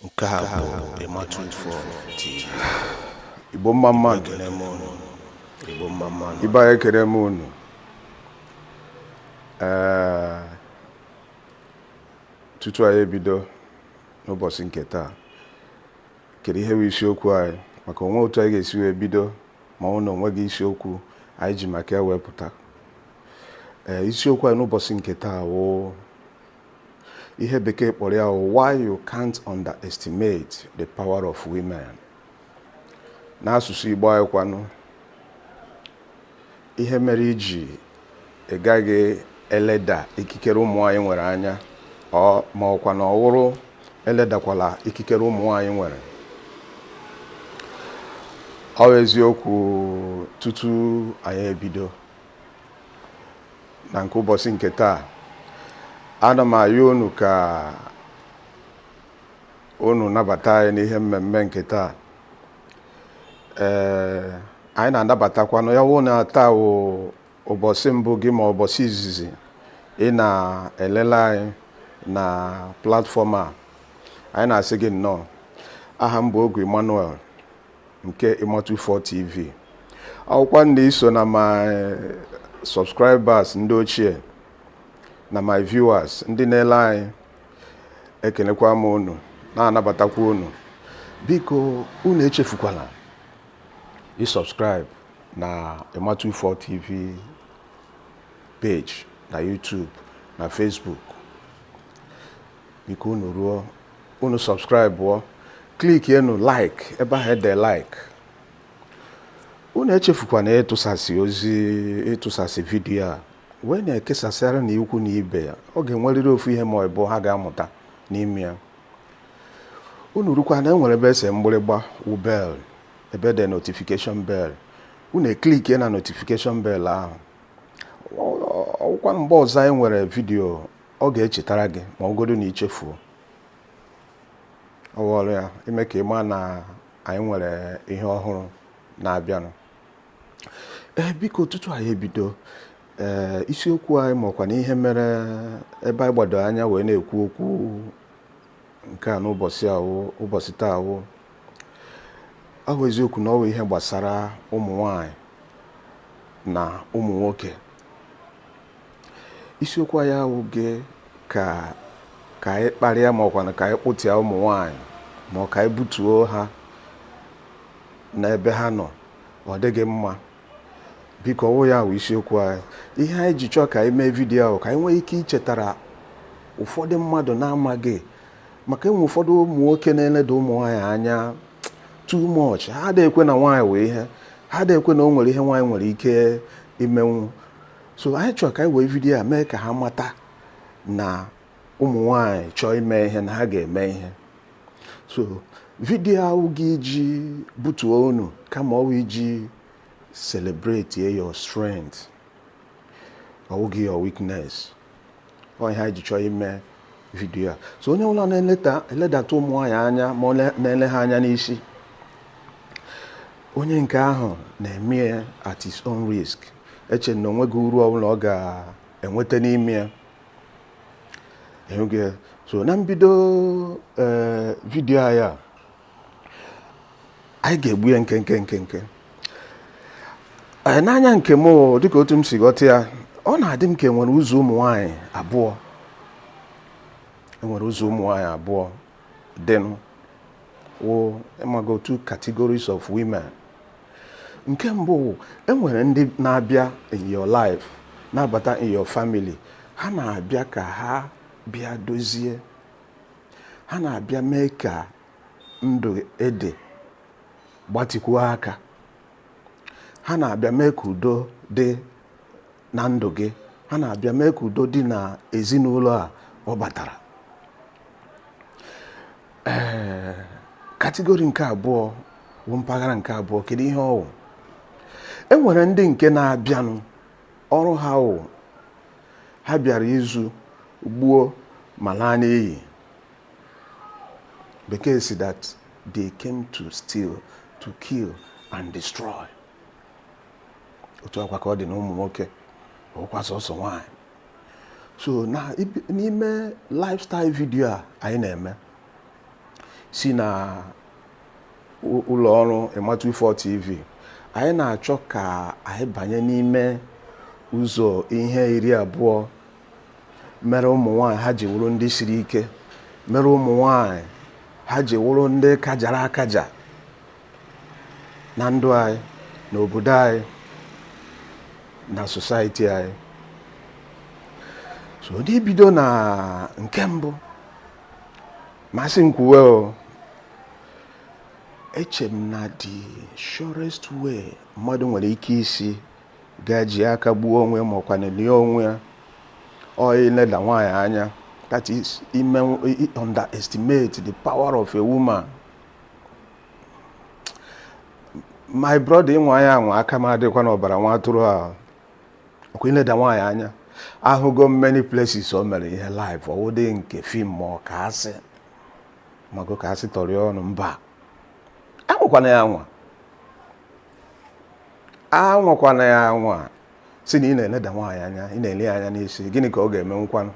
nke a bụ Emma24 TV igbo mma mma nụ ekele m unu igbo mma mma nụ. ibe anyị ekele m unu ee tutu anyị ebido n'ụbọchị nke taa kedu ihe bụ isiokwu anyị maka o nwe otu anyị ga-esi wee bido ma ọ wụ na o nweghị isiokwu anyị ji maka ya wee pụta ee eh, isiokwu anyị n'ụbọchị nke taa wụ ihe bekee kpọrọ ya why you can't underestimate the power of women n'asụsụ Igbo anyị kwanụ ihe mere i ji ị gaghị eleda ikikere ụmụ nwanyị nwere anya ọ ma ọkwa na ọ wụrụ eledakwala ikikere ụmụ nwanyị nwere ọ wụ eziokwu tutu anyị ebido na nke ụbọchị nke taa ana m ayọ unu ka unu nabata anyị n'ihe mmemme nke taa ee anyị na-anabatakwa unu ya wụ na taa wụ ụbọchị mbụ gị ma ụbọchị izizi ị na-elele anyị na platfọm a anyị na-asị gị nnọọ aha m bụ Ogwu Emmanuel nke Emma24 TV ya wụkwa na i so na my subscribers ndị ochie na my viewers ndị na-ele anyị ekelekwa m unu na-anabatakwa unu biko unu echefukwala isubscribe na Emma24 TV page na YouTube na Facebook biko unu ruo unu sọbskraịbụọ klikienu like ebe ahụ e de like unu echefukwana ịtụsasị ozi ịtụsasị vidiyo a wee na-ekesasịara na ikwu na ibe ya ọ ga-enwerịrị ofu ihe ma ọ bụ ha ga-amụta n'ime ya unu rukwa na e nwere ebe e se mgbịrịgba wụ bell ebe e de notification bell unu eklikie na notification bell ahụ ọkwa mgbe ọzọ anyị nwere vidiyo ọ ga-echetara gị ma ọ godu na i chefuo ọ wụ ọrụ ya ime ka ị maa na anyị nwere ihe ọhụrụ na-abịanụ ee biko tutu anyị ebido ee isiokwu anyị makwa na ihe mere ebe anyị gbado anya wee na-ekwu okwu nke a n'ụbọchị taa wụ ọ wụ eziokwu na ọ wụ ihe gbasara ụmụ nwanyị na ụmụ nwoke isiokwu anyị awụghị ka anyị kparịa ma ọ kwanụ ka anyị kpụtịa ụmụ nwanyị ma ọ ka anyị butuo ha n'ebe ha nọ ọ dịghị mma biko ọwụ ya wụ isiokwu anyị ihe anyị ji chọọ ka anyị mee vidiyo a wụ ka anyị nwee ike ichetara ụfọdụ mmadụ na-amaghị maka enwe ụfọdụ ụmụ nwoke na-eleda ụmụ nwaanyị anya too much ha adịghị ekwe na nwaanyị wụ ihe ha adịghị ekwe na o nwere ihe nwaanyị nwere ike imenwu so anyị chọrọ ka anyị wee vidiyo a mee ka ha mata na ụmụ nwanyị chọọ ime ihe na ha ga-eme ihe so vidiyo a awụghị iji butuo unu kama ọwụ iji celebrate your strength ọwụghị your weakness ọ ihe anyị ji chọọ ime vidiyo a so onye ọbụla na-eledata ụmụ nwaanyị anya ma ọ na-ele ha anya n'isi onye nke ahụ na-eme ya at his own risk eche na onweghị uru ọbụla ọ ga-enweta n'ime ya so na mbido eh, vidiyo anyị a anyị ga-egbu ya nkenke nkenke n'anya nke m dịka otu m si ghọta ya ọ na-adị m ka enwere ụzọ ụmụ nwanyị abụọ enwere ụzọ ụmụ nwanyị abụọ dịnụ wụ ịmago two categories of women nke mbụ wụ enwere ndị na-abịa in your life na-abata in your family ha na-abịa ka ha bịa dozie ha na-abịa mee ka ndụ ị dị gbatịkwuo aka ha na-abịa mee ka udo dị na ndụ gị ha na-abịa mee ka udo dị na ezinụlọ a ọ batara ee eh, category nke abụọ wụ mpaghara nke abụọ kedu ihe ọwụ e nwere ndị nke na-abịanụ Ọrụ ha wụ, ha bịara izu, gbuo ma laa n'iyi. Bekee sị that they came to steal, to kill and destroy. Otu a kwa ka ọ dị na ụmụ nwoke, ọkwa sọsọ nwanyị. So na n'ime lifestyle video a anyị na-eme si na ụlọ ọrụ Ịmatuifo TV anyị na-achọ ka anyị banye n'ime ụzọ ihe iri abụọ mere ụmụ nwanyị ha ji wụrụ ndị siri ike mere ụmụ nwanyị ha ji wụrụ ndị kajara akaja na ndụ anyị na obodo anyị na society anyị so n'ibido na nke mbụ ma asị m kwuwe o eche m na the surest way mmadụ nwere ike isi ga-eji aka gbuo onwe ya ma ọkwanụ lie onwe ya ọwụ ileda nwaanyị anya that is underestimate the power of a woman my brother ị nwaa ya anwa aka m adịkwa n'ọbara nwa atụrụ a ọkwa ileda nwaanyị anya ahụgo m many places o mere ihe live ọwụdị nke film ma ọ ka asị mago ka asị tori ọnụ mba anwakwana ya anwa anwakwana ya anwa sị na ị na-eleda nwaanyị anya ị na-ele ya anya na-asị gịnị ka ọ ga-eme m kwanụ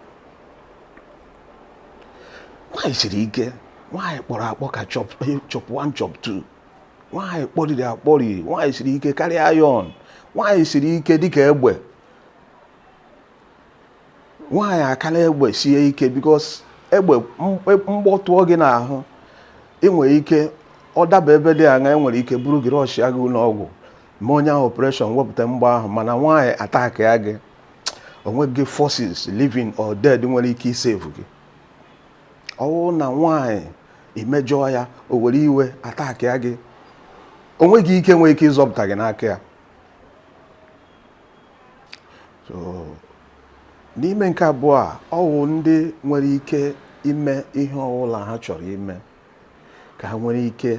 nwaanyị siri ike nwaanyị kpọrọ akpọ ka chop 1 chop 2 nwaanyị kpọriri akpọri nwaanyị siri ike karịa iron nwaanyị siri ike dịka egbe nwaanyị akala egbe sie ike because egbe mgbọ tụọ gị n'ahụ ị nwere ike ọ daba ebe dị aṅa enwere ike buru gị rushịa gị ụlọ ọgwụ mee onye ahụ operation wepụta mgbọ ahụ mana nwaanyị attackịa gị o nweghị forces living or dead nwere ike isave gị ọwụ na nwaanyị i mejọọ ya o were iwe attackịa gị o nweghị ike nwere ike ịzọpụta gị n'aka ya n'ime nke abụọ a ọwụ ndị nwere ike ime ihe ọwụla ha chọrọ ime ka ha nwere ike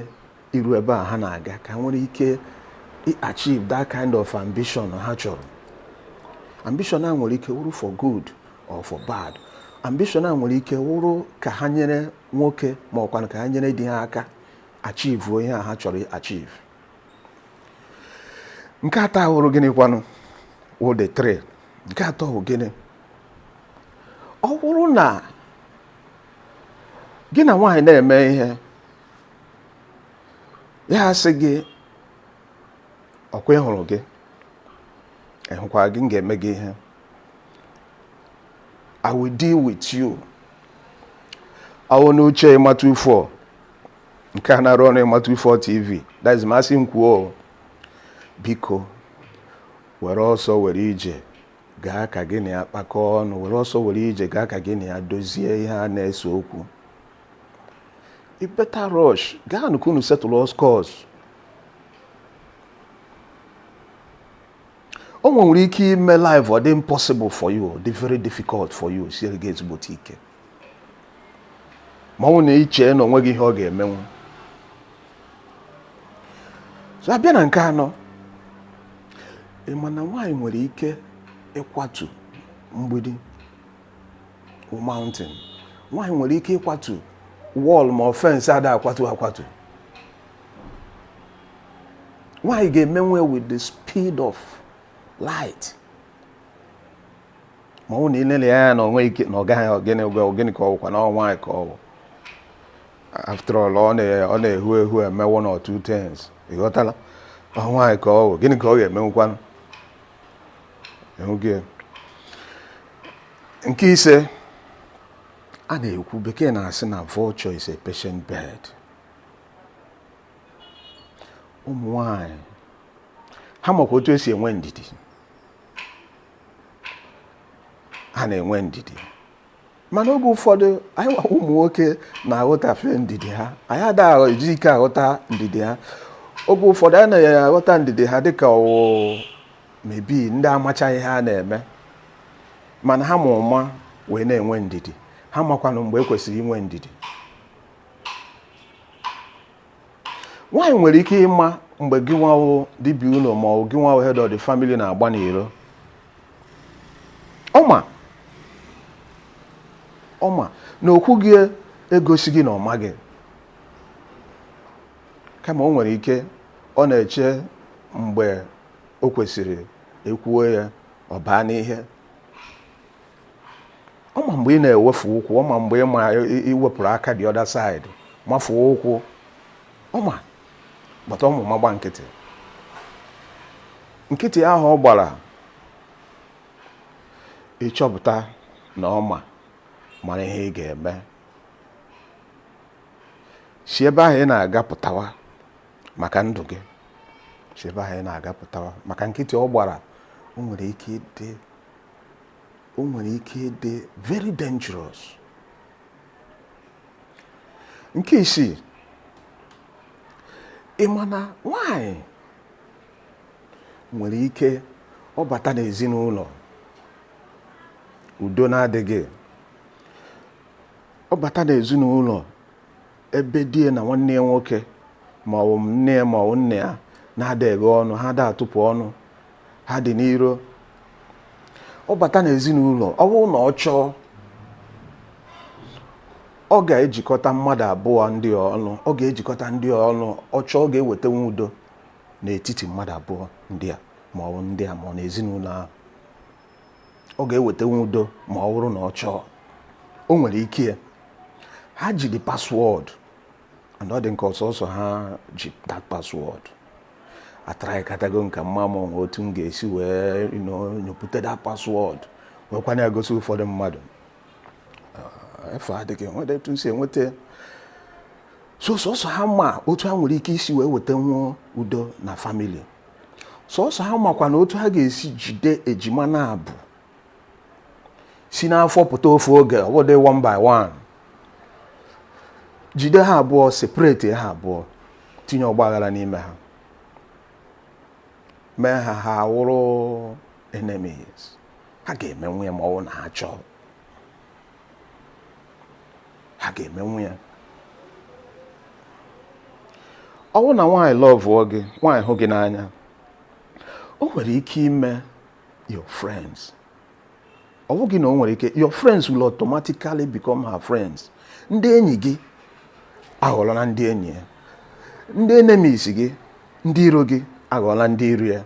iru ebe a ha na-aga ka ha nwere ike achieve that kind of ambition ha chọrọ ambition a nwere ike wụrụ for good or for bad ambition a nwere ike wụrụ ka ha nyere nwoke ma ọkwanụ ka ha nyere di ha aka achieve ihe ha chọrọ achieve nke atọ awụrụ gịnị kwanụ wụ the three nke atọ wụ gịnị ọ wụrụ na gị na nwaanyị na-eme ihe ya asị gị ọkwa ị hụrụ gị ị hụkwa gị m ga-eme gị ihe I will deal with you ọwụ n'uche ịmatụ ifo nke a na-arụ ọrụ ịmatụ ifo tv that is ma asị m kwuo biko were ọsọ were ije gaa ka gị na ya kpakọọ ọnụ were ọsọ were ije gaa ka gị na ya dozie ihe a na-ese okwu ị better rush gaanụ ka unu settle all scores o nwere ike ime life ọ dị impossible for you dị very difficult for you siere gị ezigbote ike ma ọ na iche na o nweghị ihe ọ ga-emenwu so a bịa na nke anọ ị ma na nwaanyị nwere ike ịkwatu mgbidi mountain nwaanyị nwere ike ịkwatu wall ma ọ fence a da akwatu akwatu nwaanyị ga-emenwu ya with the speed of light ma ọ na i lele ya na o nwe ike na ọ gaghị ọ gịnị ọ gị ọ gịnị ka ọ bụkwa na ọ nwaanyị ka ọ bụ after all ọ na-ehu ehu eme one or two things ị ghọtala ọ nwaanyị ka ọ bụ gịnị ka ọ ga-emenwukwanụ ehuge nke ise a na-ekwu bekee na-asị na vulture is a patient bird ụmụ nwanyị ha makwa otu e si enwe ndidi ha na-enwe ndidi mana oge ụfọdụ anyị nwa wụ ụmụ nwoke na-aghọtafe ndidi ha anyị adaghị eji ike aghọta ndidi ha oge ụfọdụ anyị na-aghọta ndidi ha dịka ọ wụ maybe ndị amachaghị ihe ha na-eme mana ha ma ụma wee na-enwe ndidi ha makwanụ mgbe e kwesịrị inwe ndidi nwaanyị nwere ike ịma mgbe gị nwa wụ di bi ụlọ ma ọ gị nwa wụ head of the family na-agba n'iro ọ ma ọ ma na o kwughị egosighị na ọ maghị kama o nwere ike ọ na-eche mgbe o kwesịrị e kwuo ya ọ baa n'ihe ọ ma mgbe ị na-ewefu ụkwụ ọ ma mgbe ị ma i wepụrụ aka the other side mafuo ụkwụ ọ ma but ọ ma ụma gba nkịtị nkịtị ahụ ọ gbara ị chọpụta na ọ ma mara ihe ị ga-eme si ebe ahụ ị na-aga pụtawa maka ndụ gị si ebe ahụ ị na-aga pụtawa maka nkịtị ọ gbara o nwere ike ịdị o nwere ike ịdị very dangerous nke isii ị ma na nwanyị nwere ike ọ bata n'ezinụlọ udo na-adịghị ọ bata n'ezinụlọ ebe di ya na nwanne ya nwoke ma ọ bụ nne ya ma ọ bụ nna ya na-adịghị ọnụ ha da atụpụ ọnụ ha dị n'iro ọ bata n'ezinụlọ ọ bụrụ na ọ chọọ ọ ga-ejikọta mmadụ abụọ ndị a ọnụ ọ ga-ejikọta ndị a ọnụ ọ chọọ ọ ga-ewetanwu udo n'etiti mmadụ abụọ ndị a ma ọ bụ ndị a ma ọ na ezinụlọ ahụ ọ ga-ewetenwu udo ma ọ bụrụ na ọ chọọ o nwere ike ya ha ji the password and ọ dị ka ọ sọsọ ha ji that password atraikatago m ka m ma ma o nwe otu m ga-esi wee nyopụta that password wekwana ya gosi ụfọdụ mmadụ ah, efe adịghị nweta etu si enweta so sọsọ ha ma otu ha nwere ike isi wee wetenwu udo na family sọsọ ha makwa na otu ha ga-esi jide ejima naabọ si n'afọ pụta ofu oge ọ bụdị one by one jide ha abụọ separate ha abụọ tinye ọgbaghara n'ime ha mee ha ha awụrụ enemies ha ga-emenwu ya ma ọ bụ na ha chọọ ha ga-emenwu ya ọ bụ na nwaanyị lọvụọ gị nwaanyị hụ gị n'anya o nwere ike ime your friends ọ bụghị na o nwere ike your friends will automatically become her friends ndị enyi gị aghọọla na ndị enyi ya ndị enemies gị ndị iro gị aghọọla ndị iro ya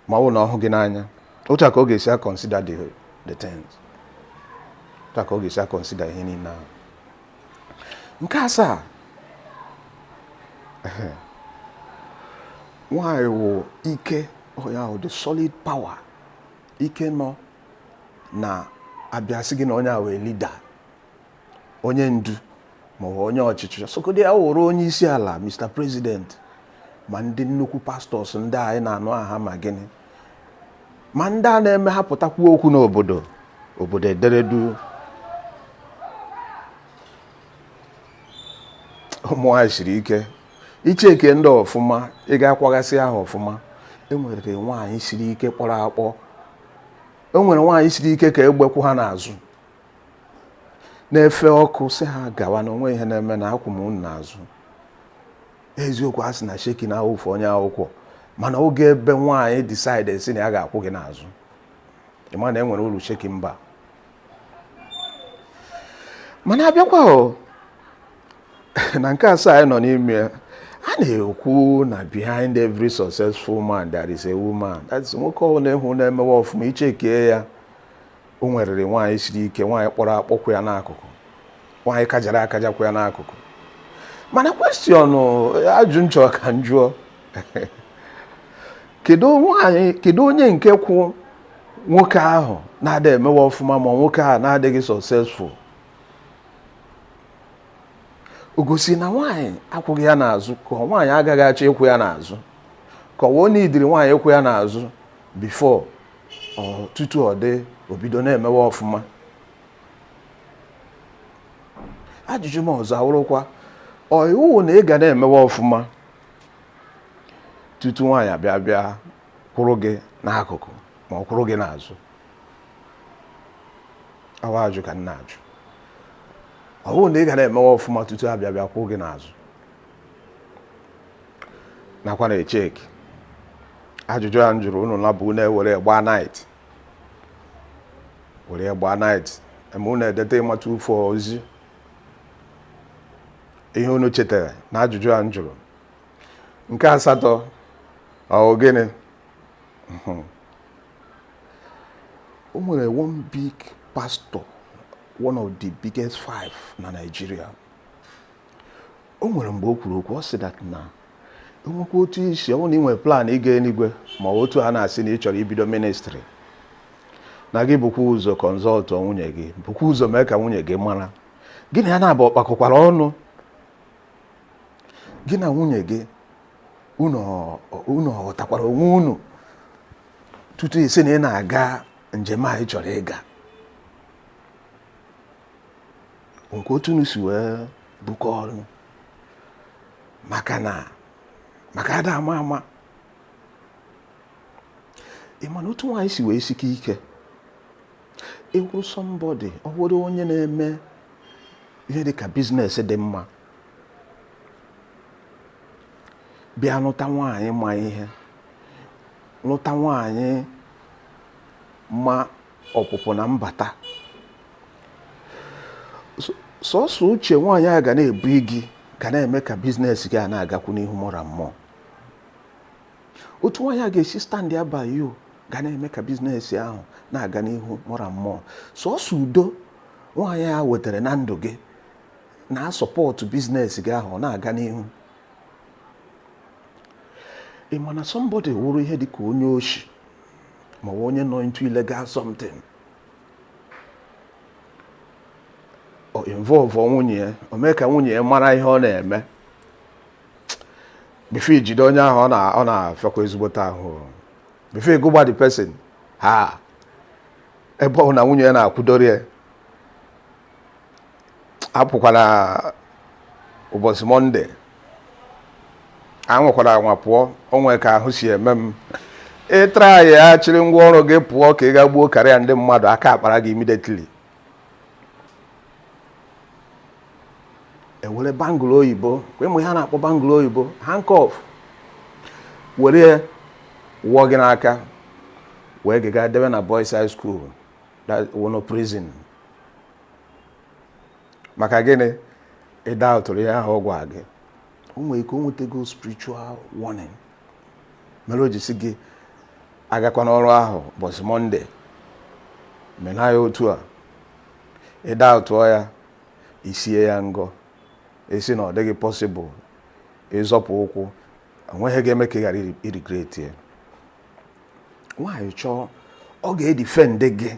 ma ọ bụ na ọ hụ gị n'anya otu a ka ọ ga-esi akọnsida the the things otu a ka ọ ga-esi akọnsida ihe niile ahụ nke asaa nwanyị wụ ike ọ ya wụ the solid power ike nọ na a bịa sị gị na onye a wụ leader onye ndu maọbụ onye ọchịchị sọkọdị ya wụrụ onye isi ala Mr President ma ndị nnukwu pastors ndị anyị na-anụ aha ma gịnị ma ndị a na-eme ha pụta kwuo okwu n'obodo obodo edere duu ụmụ nwaanyị siri ike i chekie ndị a ọfụma ị gaa kwaghasịa ha ọfụma e nwere nwaanyị siri ike kpọrọ akpọ e nwere nwaanyị siri ike ka egbe kwụ ha n'azụ na-efe ọkụ sị ha gawa na o nweghị ihe na-eme na akwụ m unu n'azụ eziokwu a sị na shaking na-awụfu onye akwụkwọ mana oge ebe nwaanyị decide sị na ya ga-akwụ gị n'azụ ị ma na e nwere uru shaking mba mana a bịakwa na nke asaa anyị nọ n'ime ya a na-ekwu na behind every successful man there is a woman that's nwoke ọbụla ị hụ na-emewe ọfụma i chekie ya o nwerịrị nwaanyị siri ike nwaanyị kpọrọ akpọ kwụ ya n'akụkụ nwaanyị kajara akaja kwụ ya n'akụkụ mana question ajụ m chọ ka m jụọ kedu onye nke kwụ nwoke ahụ na-ada emewe ọfụma ma nwoke ahụ na-adịghị successful o gosi na nwaanyị akwụghị ya n'azụ ka nwaanyị agaghị achọ ịkwụ ya n'azụ ka ọ wụ o niidiri nwaanyị ịkwụ ya n'azụ before tutu ọ dị obido na-emewe ọfụma ajụjụ m ọzọ awụrụkwa ọ iwu na ị ga na-emewe ọfụma tutu nwaanyị abịa bịa kwụrụ gị n'akụkụ ma ọ kwụrụ gị n'azụ ọ wụ ajụ ka m na-ajụ ọ wụ na ị ga na-emewe ọfụma tutu abịa bịa kwụrụ gị n'azụ nakwa na-echeck ajụjụ a m jụrụ unu na bụ unu ewere gbaa night were gbaa night ma unu edeta ịmata ufo ozi ihe unu chetara na ajụjụ a m jụrụ nke asatọ ọ gịnị o nwere one big pastor one of the biggest five na Nigeria o nwere mgbe o kwuru okwu ọ sị that na enwekwa otu isi ọ bụrụ na ị nwere plan ịga eluigwe ma otu a na-asị na ị chọrọ ibido ministry na gị bukwa ụzọ consult nwunye gị bukwa ụzọ mee ka nwunye gị mara gị na ya n'abụọ kpakọkwara ọnụ gị na nwunye gị unu ghọtakwara onwe unu tutu ị sị na ị na-aga njem a ị chọrọ ịga nke otu unu si wee bukọ ọnụ maka ada ama ama ị ma na otu nwaanyị si wee sike ike ị wụrụ somebody ọ bụrụ onye na-eme ihe dị ka business dị mma bịa lụta nwaanyị ma ihe lụta nwaanyị ma ọpụpụ na mbata sọsọ uche nwaanyị a ga na-ebu gị ga na-eme ka business gị a na-agakwu n'ihu more and more otu nwaanyị a ga-esi stand by you ga na-eme ka business ahụ na-aga n'ihu more and more sọsọ udo nwaanyị a wetara na ndụ gị na-asupport business gị ahụ na-aga n'ihu ị ma na somebody wụrụ ihe dị ka onye oshi ma onye nọ into illegal something o involve nwunye ya o mee ka nwunye ya mara ihe ọ na-eme before e jide onye ahụ ọ na-afịakwa ezigbote ahụ before ịgụgba the person ha ebe ọ wụ na nwunye ya na-akwụdoro ya apụkwana ụbọchị mọnde anwakwara anwa pụọ onwe ka ahụ si eme m ị traịa chịrị ngwa ọrụ gị pụọ ka ị ga gbuo karịa ndị mmadụ aka akpara gị immediately ewere bangụl oyibo ị ma ihe a na-akpọ bangụl oyibo handcuff were wụọ gị n'aka wee gị gaa debe na boys high school a wụnụ prison maka gịnị ị daụtụrụ ihe ahụ ọ gwa gị o nwere ike o nwetago spiritual warning mere o ji sị gị agakwana ọrụ ahụ ụbọchị mọnde mena ya otu a ị daụtụọ ya isie ya ngọ ị sị na ọ dịghị pọsịbụl ịzọpụ ụkwụ onweghị ihe ga-eme ka ị ghara irigreti ya nwaanyị chọọ ọ ga-edifendị gị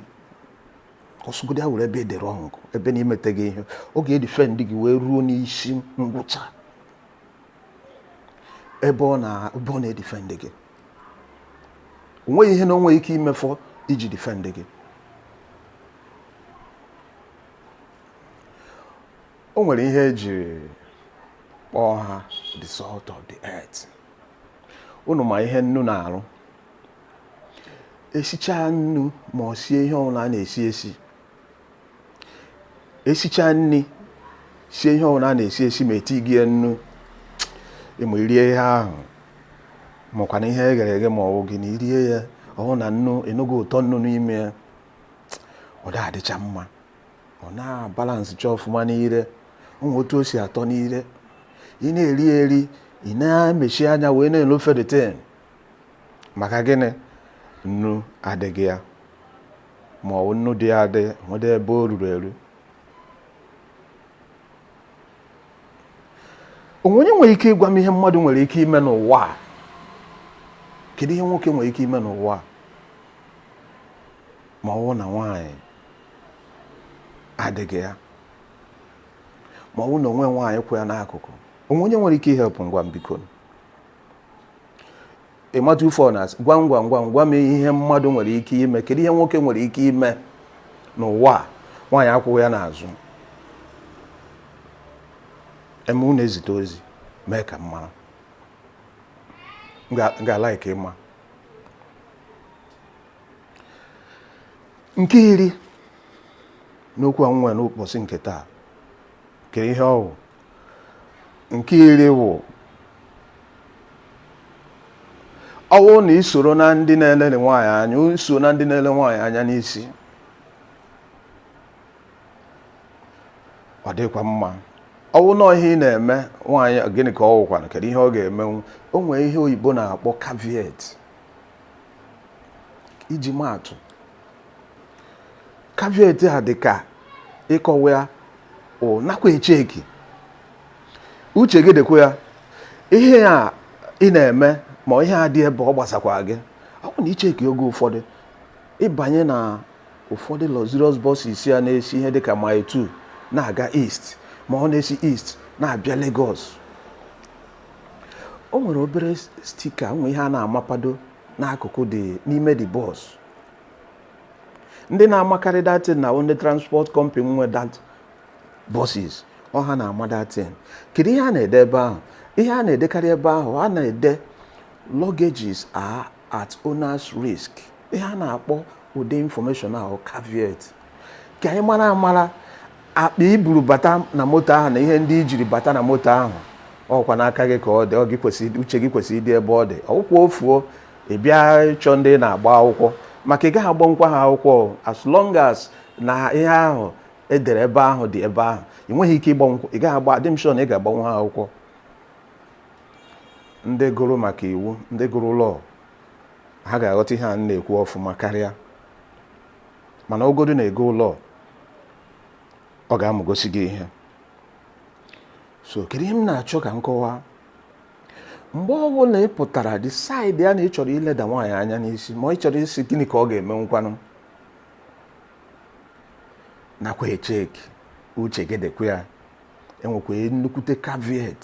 ọ sọgodi ya wụrụ ebe ị dị rọng ebe na imeteghị ihe ọ ga-edifend gị wee ruo n'isi ngwụcha ebe ọ na-edifend gị onweghị ihe na onweghị ike imefọ iji difend gị o nwere ihe eji kpọọ ha the salt of the earth unu ma ihe nnu na-arụ esichaa nnu ma ọ sie ihe ọbụla a na-esi esi esichaa nri sie ihe ọbụla a na-esi esi ma etighị ya nnu ịma iri ihe ahụ makwanụ ihe e ghere eghe ma ọ bụ gịnị irie ya ọ wụ na nnu ịnụghị ụtọ nnu n'ime ya ọ da adịcha mma ọ na-abalansịcha ọfụma n'ire o nwere otu o si atọ n'ire ị na-eri eri ị na-emechi anya wee na-elofe the thing maka gịnị nnu adịghị ya ma ọ bụ nnu dị ya adị o nwede ebe o ruru eru onwe onye nwere ike ịgwa m ihe mmadụ nwere ike ime n'ụwa a kedu ihe nwoke nwere ike ime n'ụwa a ma ọ bụ na nwaanyị adịghị ya ma ọ bụ na onwe nwaanyị kwụ ya n'akụkụ onwe onye nwere ike ihelp m gwa m biko ịmata ufe ọ na-asị gwa m gwa m gwa m gwa m ihe mmadụ nwere ike ime kedu ihe nwoke nwere ike ime n'ụwa a nwaanyị akwụghị ya n'azụ eme unu ezite ozi mee ka m mara M ga- m ga-alike ịma nke iri n'okwu a m nwere n'ụbọchị nke taa kedu ihe ọ bụ nke iri wụ ọwụ na isoro na ndị na-eleli nwaanyị anya iso na ndị na-ele nwaanyị anya n'isi ọ dịkwa mma ọwụ na ihe ị na-eme nwaanyị gịnị ka ọ wụkwanụ kedu ihe ọ ga-emenwu o nwere ihe oyibo na-akpọ caveat iji maatụ caveat a dị ka ịkọwa ya o nakwa echeki uche gị dịkwa ya ihe a ị na-eme ma ihe a dị ebe ọ gbasakwa gị ọ bụ na i cheki oge ụfọdụ ị banye na ụfọdụ luxurious buses a na-esi ihe dịka mile 2 na-aga east ma ọ na-esi east na-abịa Lagos o nwere obere sticker o nwere ihe a na-amapado n'akụkụ dị n'ime the bus ndị na-amakarị that thing na ndị transport company nwe that buses ọ ha na-ama that thing kedu ihe a na-ede ebe ahụ ihe a na-edekarị ebe ahụ a na-ede luggages are at owner's risk ihe a na-akpọ ụdị information ahụ caveat ka ị mara amara akpa i buru bata na moto ahụ na ihe ndị i jiri bata na moto ahụ ọkwa n'aka gị ka ọ dị ọ gị kwesịrị uche gị kwesịrị ịdị ebe ọ dị ọ wụkwa o fuo ị bịa ịchọ ndị ị na-agba akwụkwọ maka ị gaghị agbanwukwa ha akwụkwọ o. as long as na ihe ahụ e dere ebe ahụ dị ebe ahụ ị nweghị ike ịgbanwukwa ị gaghị agba adị m sure na ị ga-agbanwu ha akwụkwọ ndị gụrụ maka iwu ndị gụrụ law ha ga-aghọta ihe a m na-ekwu ọfụma karịa mana ogodu na ị gụọ law ọ ga-amụgosi gị ihe so kedu ihe m na-achọ ka m kọwaa mgbe ọ bụla ị pụtara decide ya na ị chọrọ ileda nwaanyị anya n'isi ma ị chọrọ ịsị gịnị ka ọ ga-emenwukwanụ nakwa echeki uche gị dịkwa ya enwekwa nnukwute caveat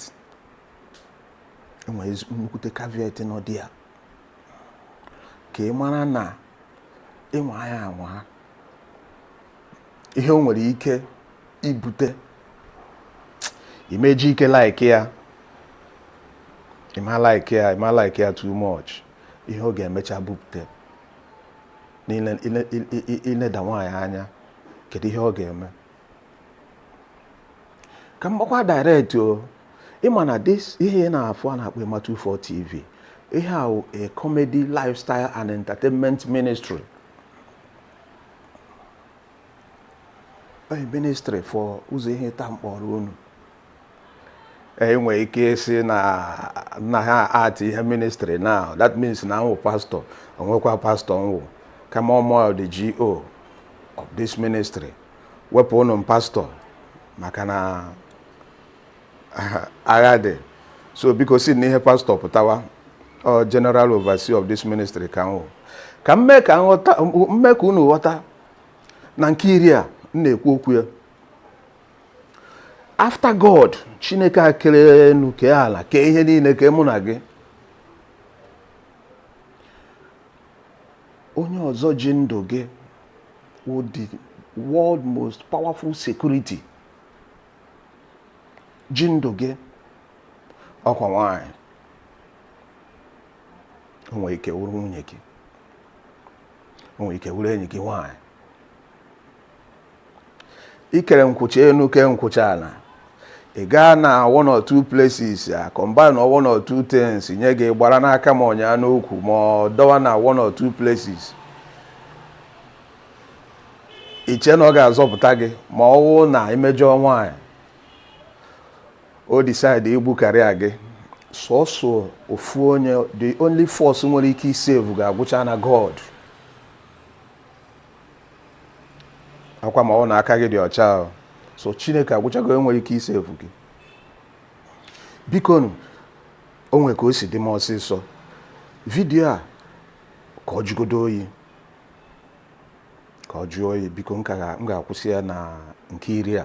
enwere nnukwute caveat nọ dị ya ka ị mara na ị nwaa ya anwa ihe o nwere ike ibute ị ma-eji ike like ya ị ma like ya ị ma like ya too much ihe ọ ga-emecha bupute n'ile- ile- i- i- i- ileda nwaanyị anya kedu ihe ọ ga-eme ka m gbakwa direct o ị ma na this ihe ị na-afụ a na-akpọ Ema 24 tv ihe a wụ a comedy lifestyle and entertainment ministry a ministry for ụzọ ihe taa m kpọrọ unu enwe ike ịsị na na ha ati ihe ministry na that means na m wụ pastor o nwekwa pastor m wụ kama ọ mụ the GO of this ministry wepụnụ m pastor maka na agha dị so biko si na ihe pastor pụtawa ọ general overseer of this ministry ka m wụ ka m mee ka unu ghọta na nke iri a m na-ekwu okwu ya after god chineke a kere enu kee ala kee ihe niile kee mụ na gị onye ọzọ ji ndụ gị wụ the world most powerful security ji ndụ gị ọ kwa nwaanyị o nwere ike wụrụ nwunye gị o nwere ike wụrụ enyi gị nwaanyị i kere nkwụcha enu kee nkwụcha ala ị gaa na one or two places a combine one or two things nye gị gbara n'aka ma ọ nyaa n'ukwu ma ọ dọwa na one or two places i che na ọ ga-azọpụta gị ma ọ wụ na i mejọọ nwaanyị o decide igbu karịa gị sọsọ ofu onye the only force nwere ike isave gị agwụcha na god ọ kwa ma ọ wụ na aka gị dị ọcha o. sọ chineke agwụchago nwere ike isave gị bikonu o nwere ka o si dị m ọsịsọ vidiyo a ka ọ jụgodo oyi ka ọ jụọ oyi biko m ga-akwụsị ya na nke iri a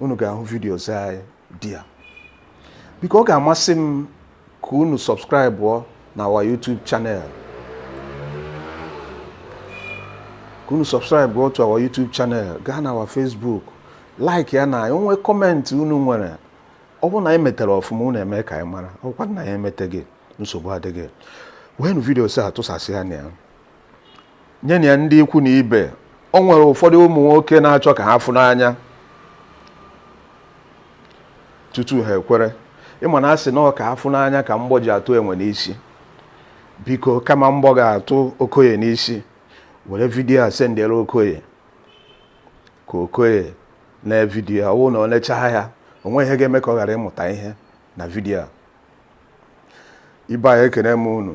unu ga-ahụ videos anyị dị ya biko ọ ga-amasị m ka unu subscribe na our YouTube channel ka unu subscribe to our YouTube channel gaa na our Facebook like ya na o nwee comment unu nwere ọ bụrụ na anyị metere ọfụma unu eme ka anyị mara ọ bụkwa na anyị emeteghị nsogbu adịghị weenụ videos a tụsasịanụ ya nyenụ ya ndị ikwu na ibe o nwere ụfọdụ ụmụ nwoke na-achọ ka ha fụ n'anya tutu ha ekwere ị ma na a sị na ọ ka a fụ n'anya ka mgbọ ji atụ enwe n'isi biko kama mgbọ ga-atụ okoye n'isi were vidiyo a sendere okoye ka okoye nee vidiyo ọ wụ na o nechaa ya o nweghị ihe ga-eme ka ọ ghara ịmụta ihe na vidiyo a ibe anyị ekene m unu